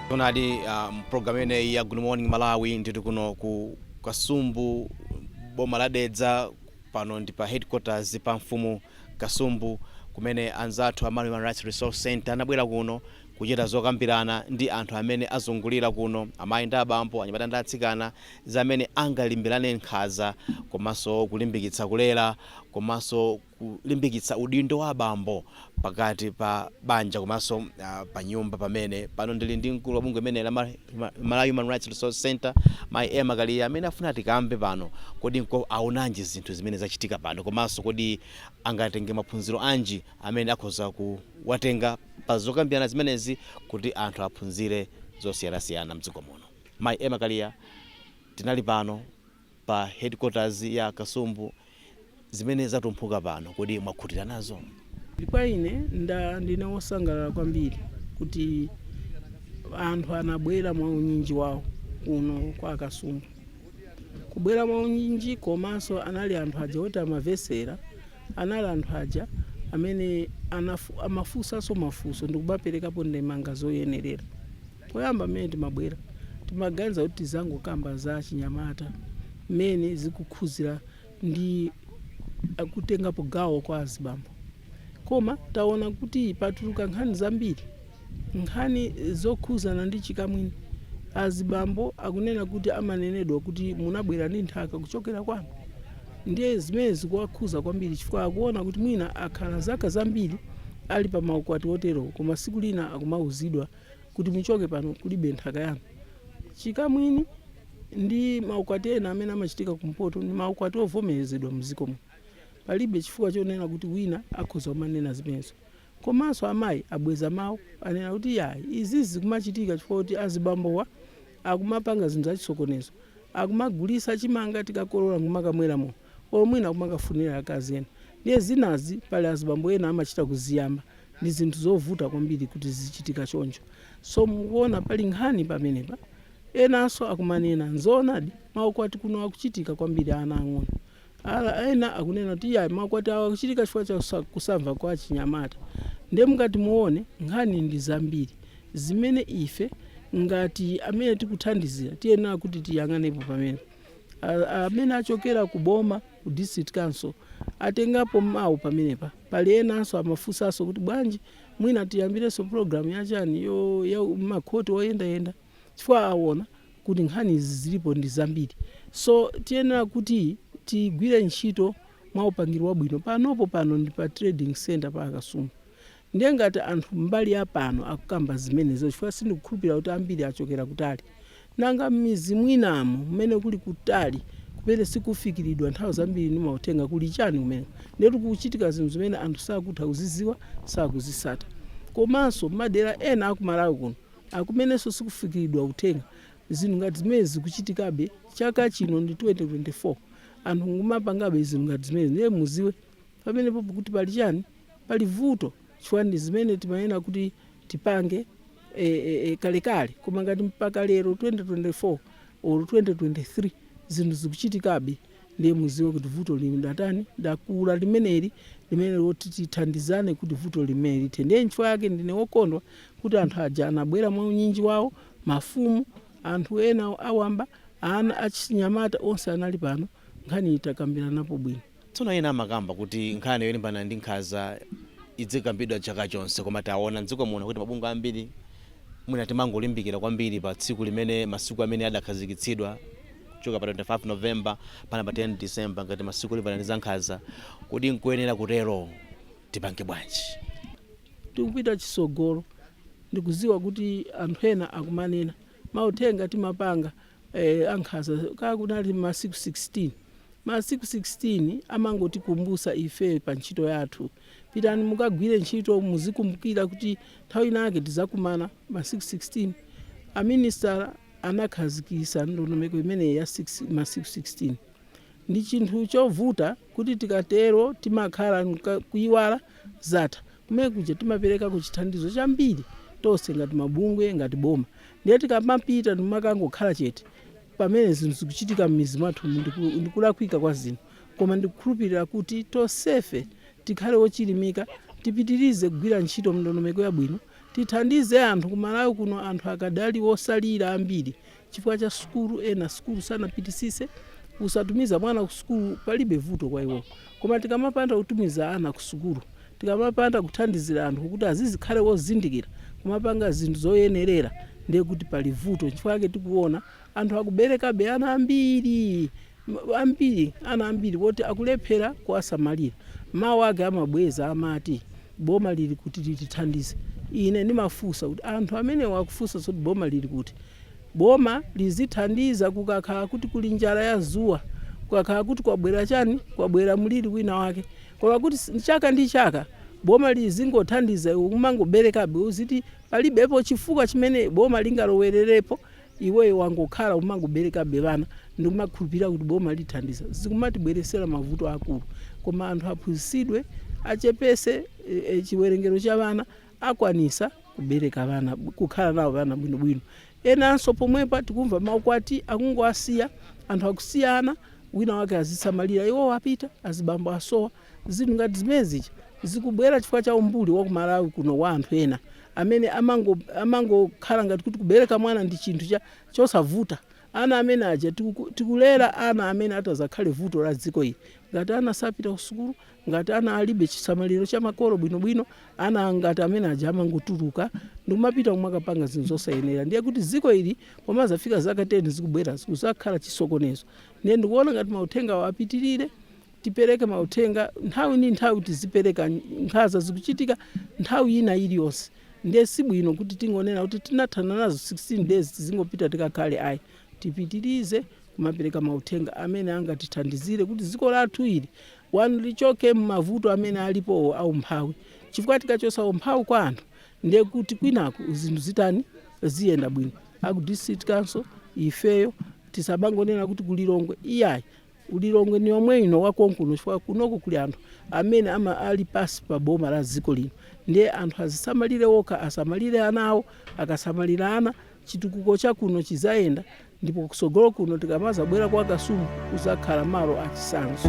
Tonadi um, program imeneyi ya Good Morning Malawi ndili kuno ku Kasumbu boma la Dedza pano ndi pa headquarters pa mfumu Kasumbu kumene anzathu a Malawi Human Rights Resource Center anabwera kuno Kuchita zokambirana ndi anthu amene azungulira kuno, amayi ndi abambo, anyamata ndi atsikana, za mmene angalimbanirane nkhanza komanso kulimbikitsa kulera komanso kulimbikitsa udindo wa abambo pakati pa banja komanso panyumba pamene. Pano ndili ndi mkulu wa bungwe limeneli la Malawi Human Rights Resource Centre, mayi Emma Kaliya amene afuna tikambe pano kodi awonanji zinthu zimene zachitika pano komanso kodi angatenge maphunziro anji amene akhoza kuwatenga pa zokambirana zimenezi kuti anthu aphunzire zosiyanasiyana mdziko muno. Mai Emma Kaliya tinali pano pa headquarters ya Kasumbu zimene zatumphuka pano kodi mwakhutira nazo? Kwa ine nda ndine wosangalala kwambiri kuti anthu anabwera mwaunyinji wawo kuno kwa a Kasumbu. kubwera mwaunyinji komaso anali anthu aja oti amavesera anali anthu aja amene anafu, amafusaso mafuso ndikumaperekapo ndemanga zoyenerera poyamba mmene timabwera timaganiza kuti tizangokamba za achinyamata mmene zikukhuzira ndi kutengapo gawo kwa azibambo. Koma taona kuti patuluka nkhani zambiri, nkhani zokhuzana ndi chikamwini. Azibambo akunena kuti amanenedwa kuti munabwera ndi nthaka kuchokera kwanu. Ndiye zimenezi zikuwakhuza kwambiri chifukwa akuona kuti mwina akhala zaka zambiri ali pa maukwati oterowo koma siku lina akumauzidwa kuti muchoke pano kulibe nthaka yanu. Chikamwini ndi maukwati ena amene amachitika kumpoto ndi maukwati ovomerezedwa mdziko muno. Palibe chifukwa chonena kuti wina akhoza kumanena zimenezo. Komanso amayi abweza mawu anena kuti yayi izizi zikumachitika chifukwa choti azibambowa akumapanga zinthu zachisokonezo, akumagulitsa chimanga tikakolola nkumakamwera mowa. or mwina kumakafunira akazi ena ndiye zinazi pali azibambo ena amachita kuziyamba ndi zinthu zovuta kwambiri kuti zichitike choncho so mukuona pali nkhani pamenepa enanso akumanena nzoonadi maukwati kuno akuchitika kwambiri ana ang'onoang'ono ena akunena kuti iyayi makwatiwo akuchitika chifukwa cha kusa- kusamva kwa achinyamata ndiye mukati muone nkhani ndi zambiri zimene ife ngati amene tikuthandizira tiyenera kuti tiyang'anepo pamene amene achokera ku boma ku district council atengapo mawu pamenepa pali enanso amafunsanso kuti bwanji mwina tiyambirenso program yachani yo ya makhoti oyendayenda chifukwa awona kuti nkhani izi zilipo ndi zambiri so tiyenera kuti tigwire ntchito mwa upangiri wabwino panopo pano ndi pa trading center pa akasungu Ndiye ngati anthu mbali ya pano akukamba zimenezo chifukwa sindikukhulupirira kuti ambiri achokera kutali, nanga m'midzi mwinamo kumene kuli kutali kumene sikufikiridwa nthawi zambiri ndi mauthenga kuli chani kumeneko? Ndiyetu kukuchitika zinthu zimene anthu sakutha kuzidziwa, sakuzitsata. Komanso m'madera ena a ku Malawi kuno akumenenso sikufikiridwa uthenga zinthu ngati zimenezi zikuchitikabe chaka chino ndi 2024 anthu nkumapangabe zinthu ngati zimenezi ndiye mudziwe pamenepo kuti pali chani pali vuto chifukwa ndi zimene tinayenera kuti tipange e, e, e, kalekale koma ngati mpaka lero 2024 or 2023 zinthu zikuchitikabe ndiye muziwe kuti vuto latani lakula limeneli lofuna kuti tithandizane kuti vuto limene lithe ndiye nchifukwa yake ndine wokondwa kuti anthu aja anabwera mwa unyinji wawo mafumu anthu ena awamba achinyamata onse anali pano nkhani itakambiranapo bwino Tsono ena amakamba kuti nkhani yolimbana ndi nkhanza idzikambidwa chaka chonse, koma taona m'dziko muno kuti mabungwe ambiri mwina timangolimbikira kwambiri pa tsiku limene, masiku amene adakhazikitsidwa kuchokera pa 25 November mpaka pa 10 December ngati masiku olimbana ndi za nkhanza. Kodi nkoyenera kutero? Tipange bwanji? Tikupita chitsogolo ndikudziwa kuti anthu ena akumanena, mauthenga timapanga eh, ankhaza kaya kunati masiku 16 masiku 16 amangotikumbusa ife pa ntchito yathu pitani mukagwire ntchito muzikumbukira kuti nthawi inake tizakumana masiku 16 aminisitala anakhazikisa ndondomeko imeneyi ya masiku 16 ndi chinthu chovuta kuti tikatero timakhala mka- kuiwala zatha kumene kuja timaperekako chithandizo chambiri tonse ngati mabungwe ngati boma ndiye tikamapita ndimakangokhala chete pamene zinthu zikuchitika m'mizi mwathu ndiku- ndikulakwika kwa zinthu koma ndikukhulupirira kuti tonsefe tikhale ochilimika tipitirize kugwira ntchito mndondomeko yabwino tithandize anthu kumalawi kuno anthu akadali otsalira ambiri chifukwa cha sukulu ena sukulu sanapitisise kusatumiza mwana ku sukulu palibe vuto kwa iwo koma tikamapanda kutumiza ana ku sukulu tikamapanda kuthandizira anthu kuti azizikhale wozindikira kumapanga zinthu zoyenerera ndiye kuti pali vuto nchifukwa chake tikuona anthu akuberekabe ana ambiri Ambiri, ana ambiri woti akulephera kuwasamalira. Mawu ake amabwereza amati, Boma lili kuti litithandize? Ine ndimafunsa kuti, Anthu amenewa akufunsa zoti boma lili kuti? Boma lizithandiza kukakhala kuti kuli njala ya dzuwa, kukakhala kuti kwabwera chani, kwabwera mliri wina wake. Koma kuti chaka ndi chaka boma lizingothandiza iwe kumangoberekabe uziti palibepo chifukwa chimene boma lingalowererepo? Iweyo wangokhala umangobelekabe bana ndikumakhulupilira kuti boma lithandiza zikumatibweretsera mavuto akulu koma anthu aphunzisidwe achepese chiwelengelo cha bana akwanisa kubeleka bana kukhala nawo bana bwino bwino enanso pomwepa tikumva maukwati akungowasiya anthu akusiyana wina wake azisamalira iwowo apita azibambo asowa Zinthu ngati zimene zija zikubwera chifukwa cha umbuli wa ku Malawi kuno wa anthu ena amene amangokhala amango ngati kuti kubereka mwana ndi chinthu cha, chosavuta. Ana amene aja tiku, tikulera ana amene adzakhale vuto la dziko ili. Ngati ana sapita ku sukulu, ngati ana alibe chisamaliro cha makolo bwinobwino, ana ngati amene aja amangotuluka ndikumapita kumakapanga zinthu zosayenera. Ndiye kuti dziko ili pomazafika zaka 10 zikubwerazi kuzakhala chisokonezo. Ndiye ndikuona ngati mauthengawo apitirire. Tipereke mauthenga nthawi ndi nthawi, tizipereka nkhaza zikuchitika nthawi ina iliyonse ndiye sibwino kuti tingonena kuti tinathana nazo 16 days tizingopita tikakhale ayi. Tipitirize kumapereka mauthenga amene angatithandizire kuti dziko lathu ili 1 lichoke mmavuto amene alipowo a umphawi chifukwa tikachotsa umphawi kwa anthu ndiye kuti kwinako zinthu zitani, ziyenda bwino. Aku district council ifeyo tisamangonena kuti ku Lilongwe iyayi ku Lilongwe ni komwe kuno kwa konkuno chifukwa kunoko kuli anthu amene ama ali pasi pa boma la dziko lino ndiye anthu azisamalire okha asamalire ana awo akasamalira ana chitukuko cha kuno chizayenda ndipo kusogolo kuno tikamazabwera kwa kasumu kuzakhala malo achisanzo